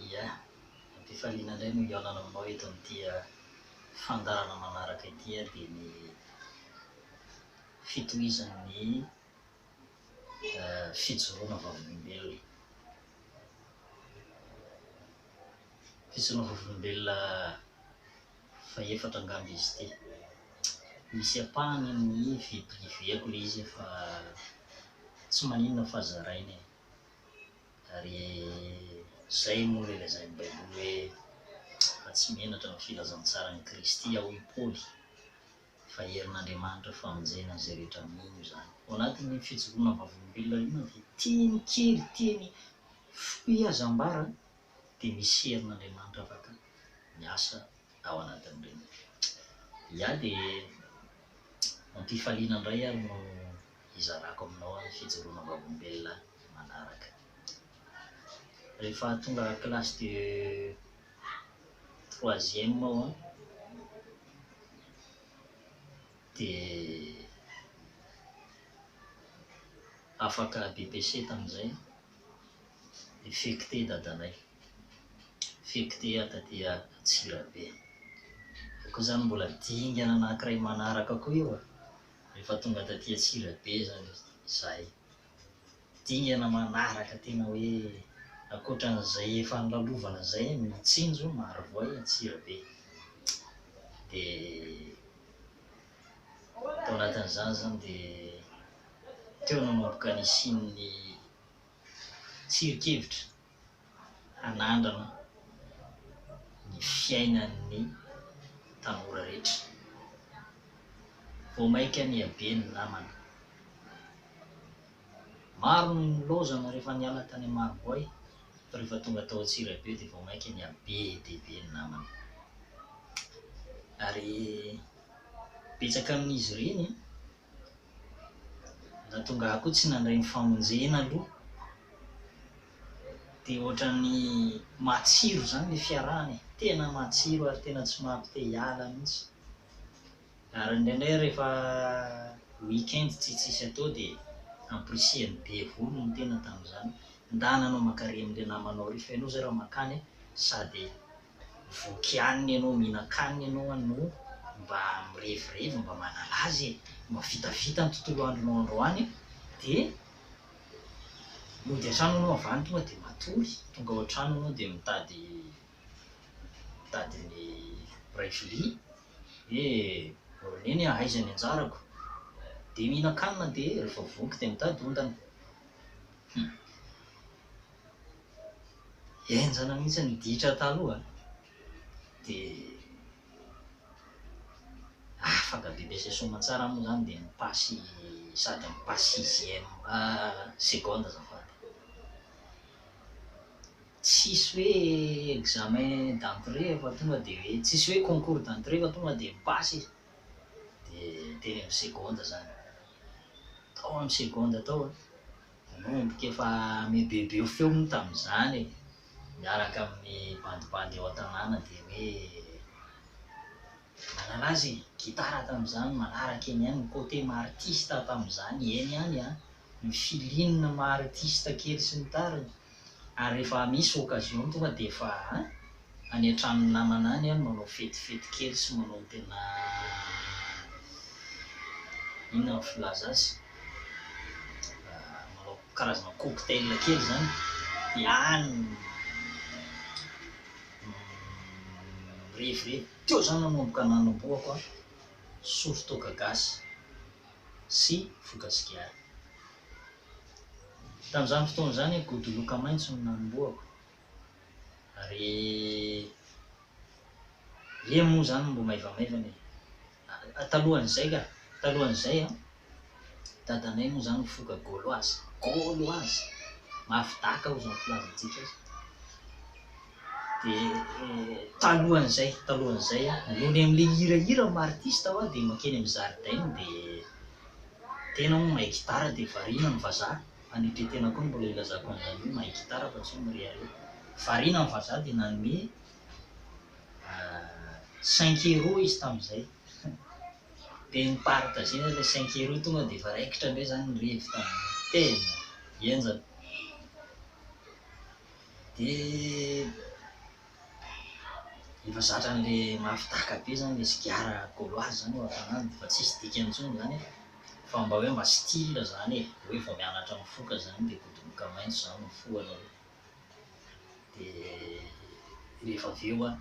Ia, am-pifaliana indray no hihaonana aminao eto amin'ity fandaharana manaraka ity dia ny fitohizan'ny fijoroana vavolombelona. Fijoroana vavolombelona fahefatra angamba izy ity. Misy ampahany amin'ny vie privée-ko ilay izy fa tsy maninona fa zaraina e. Ary izay moa ilay lazain'ny Baiboly hoe, Fa tsy menatra ny filazantsaran'i Kristy aho i Paoly, fa herin'Andriamanitra famonjena an'izay rehetra mino izany. Ao anatin'iny fijoroana vavolombelona iny na dia teny kely, teny fohy aza ambara, dia misy herin'Andriamanitra afaka miasa ao anatin'ireny. Ia, dia ampifaliana indray ary no hizarako aminao ny fijoroana vavolombelona manaraka. Rehefa tonga classe de troisième aho an, dia afaka BPC tamin'izay, dia fekte i dadanay, fekte taty Antsirabe. Koa izany mbola dingana anankiray manaraka koa io an. Rehefa tonga taty Antsirabe izany izahay, dingana manaraka tena hoe ankoatran'izay efa nolalovana izay ny Mitsinjo Marovoay Antsirabe. Dia tao anatin'izany izany dia teo nanomboka nisian'ny tsirinkevitra. hanandrana ny fiainan'ny tanora rehetra. Vao maika nihabe ny namana. Maro no nilaozana rehefa niala tany Amaroboay fa rehefa tonga tao Antsirabe dia vao maika nihabe dia be ny namana. Ary betsaka amin'izy ireny Na tonga aho koa tsy nandray ny famonjena aloha dia ohatran'ny matsiro izany ilay fiarahana e! Tena matsiro ary tena tsy mampite hiala mihitsy. Ary indraindray rehefa week-end tsy tsisy atao dia ampirisihany be volo ny tena tamin'izany, ndà nanao mankarỳ amin'ilay namanao ary fa ianao izay raha mankany sady voky hanina ianao, mihinan-kanina ianao an, no mba mirevirevy, mba manala azy e, mba vitavita ny tontolo andronao androany e, dia mody an-trano ianao avy any tonga dia matory, tonga ao an-trano ianao dia mitady mitady ny mpiray vilia hoe ry neny a aiza ny anjarako? dia mihinan-kanina dia rehefa voky dia mitady ondana, hum. Henjana mihitsy ny ditra taloha dia afaka be be izay soamantsara moa izany dia mi-passe sady mi-passe sixième seconde azafady. Tsisy hoe examen d'entrée efa tonga dia hoe, tsisy hoe concours d'entrée fa tonga dia mi-passe izy dia teny amin'ny seconde izany. Tao amin'ny seconde tao an! Ianao endrika efa mibebeo feo moa tamin'izany e! miaraka amin'ny bandibandy ao an-tanàna dia hoe manaraza e! gitara tamin'izany, manaraka eny ihany ny côté maha artiste tamin'izany, eny ihany an! ny feeling maha artiste kely sy ny tariny. ary rehefa misy occasion tonga dia efa any an-tranon'ny namana any aho no manao fetifety kely sy manao ny tena inona no filaza azy? manao karazana cocktail kely izany dia any no mirevirevy. Teo izany no nanomboka nanombohako an, sory toaka gasy sy voka sigara. Tamin'izany fotoana izany, godoloka maitso no nanombohako. Ary ie moa izany mbo maivamaivana e! Ah, talohan'izay ka! Talohan'izay an! Dadanay moa izany mifoka Gauloise. Gauloise! Mafy daka hoy izao ny filazantsika azy. Dia talohan'izay, talohan'izay an! Mihaino an'ilay hirahira, martista aho dia makeny amin'ny zaridaina dia Tena hono mahay gitara dia variana ny vazaha, hanetry tena koa no mbola ilazako an'izany hoe mahay gitara fa tsy hoe mirehareha. Variana ny vazaha dia nanome cinq euros izy tamin'izay. Dia ni-partager-na ilay cinq euros tonga dia efa raikitra indray izany ny revy tamin'izay. Tena henjana. Dia. efa zatra anle mafy taka be zany le sigara gauloise zany eo antanany fa tsisy dikany intsony zany e! fa mba hoe mba style zany e! hoe vao mianatra mifoka zany de bodoboka maintso zany no fohana hoe de rehefa avy eo an!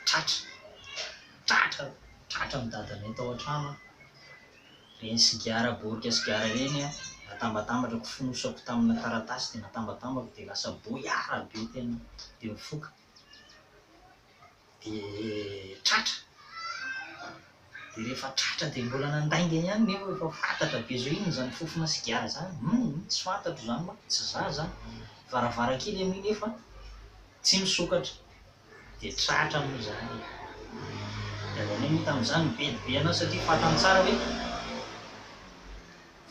tratra! tratra! tratra ny dadanay tao antrano an! Ireny sigara borika sigara ireny an, natambatambatra ko fonosako tamina taratasy dia natambatambako dia lasa boyard be tena dia mifoka dia tratra dia rehefa tratra dia mbola nandainga ihany nefa efa fatratra be zao inona izany fofona sigara izany hum tsy fantatro izany manko tsy za izany varavarankely anie nefa tsy misokatra Dia tratra moa izany e! Ny avy any aloha tamin'izany nibe dia be an'ahy satria fantany tsara hoe,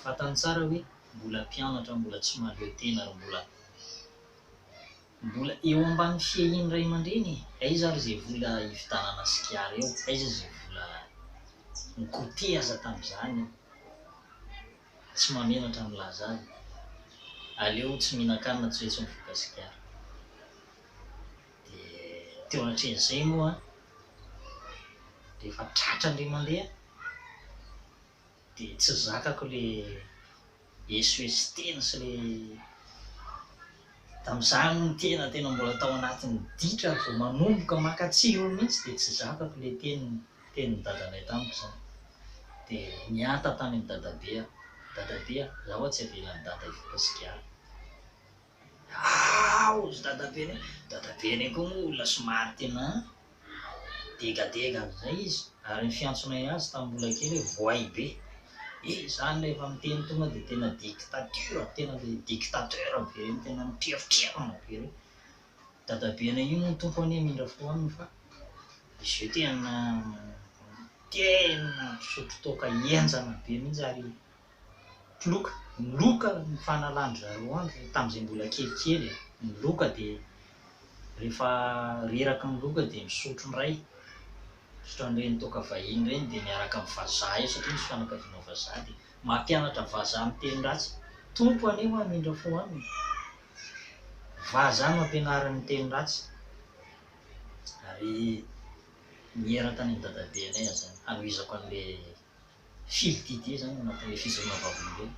fantany tsara hoe mbola mpianatra, mbola tsy mahaleo tena ary mbola, mbola eo ambany fiahian'ny ray aman-dreny e! Aiza ary izay vola hividianana sigara eo? Aiza izay vola nikoteha aza tamin'izany eo? tsy mahamenatra milaza azy e! aleo tsy mihinan-kanina tsy vitsy mivoaka sigara! dia teo anatrehan'izay moa rehefa tratra indray mandeha dia tsy zakako ilay esoeso tena sy ilay tamin'izany hono tena tena mbola tao anatin'ny ditra vao manomboka maka tsirony mihitsy dia tsy zakako ilay teniny Tenin'ny dadanay tamiko izany. Dia niatta tany amin'ny dadabe aho. Dadabe a! Zaho tsy avelan'i dada hivoaka sigara. Aa! hozy dadabe anay. Dadabe anay koa moa olona somary tena degadega an'izay izy ary ny fiantsonay azy tamin'ny mbola kely hoe voay be. He! izany rehefa miteny tonga dia tena dictature, tena ilay dictateur be ireny tena mitriafitriafana be ireny. dadabe anay io moa Tompo anie hamindra fo aminy fa izy io tena tena mpisotro toaka henjana be mihitsy ary mpy loka, ny loka no fanalan-dry zareo andry tamin'izay mbola kelikely e, ny loka dia rehefa reraky ny loka dia misotro indray, misotro an'ireny toaka vahiny ireny dia miaraka amin'ny vazaha eo satria misy fianakaviana vazaha dia mampianatra vazaha miteny ratsy, Tompo anie ho'a hamindra fo aminy. Vaza no ampianariny ny teny ratsy ary niera tany amin'ny dadabe anay aza zany hanohizako an'le fily Didier zany anatin'le fijoroana vavolombelona.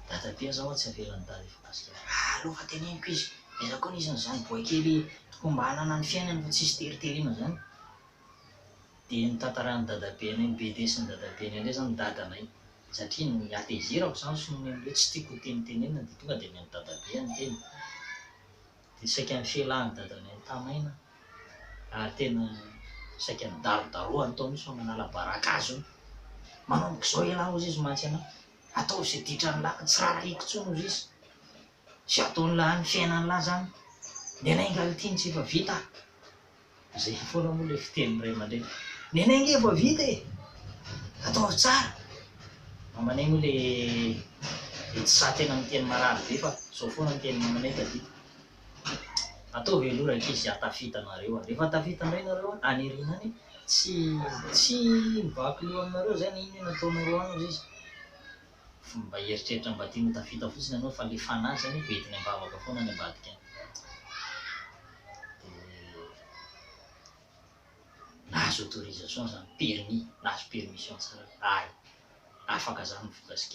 Dadabe aza ho'a tsy avela nidala efa gasika zany. Aleo fa teneniko izy, aiza koa nisy an'izany boay kely tokony mba hanana ny fiainany fa tsisy teriteriana zany. dia notantaran'i dadabenay, ny bebe sy ny dadabenay indray izany ny dadanay, satria ny hatezerako izany sy ny hoe hoe tsy tiako hotenitenenina dia tonga dia avy amin'ny dadabe aho ny teny, dia saika nifelahin'ny dadanay nitanaina aho ary tena saika nidarodarohany tao mihitsy fa manala baraka azy hono, manomboka izao ialahy hozizy mantsy anao, ataovy izay ditran'ny làlana, tsy rarahiko intsony hozizy. tsy ataony lany fiainany lahy zany nenay ingahy ity ntsy efa vita a! zay foana moa le fitenin'ny ray aman-dreny nenay nge efa vita e! ataovy tsara mamanay moa le le tsy sahy tena miteny marary be fa zao foana ny tenin'ny mamanay tadidiko ataovy aloha rankizy zay ahatafita nareo a! refa tafita indray nareo a! any aoriana any tsy tsy mivaky loha aminareo zany inona inona ataonareo any ozy izy fomba hieritreritra mba tiany ho tafita fotsiny ianao fa le fanahy zany efa entiny am-bavaka foana any ambadika any de nahazo autorisation zany, permis, nahazo permission tsara hoe hay, afaka zany ny vola sy giahaha.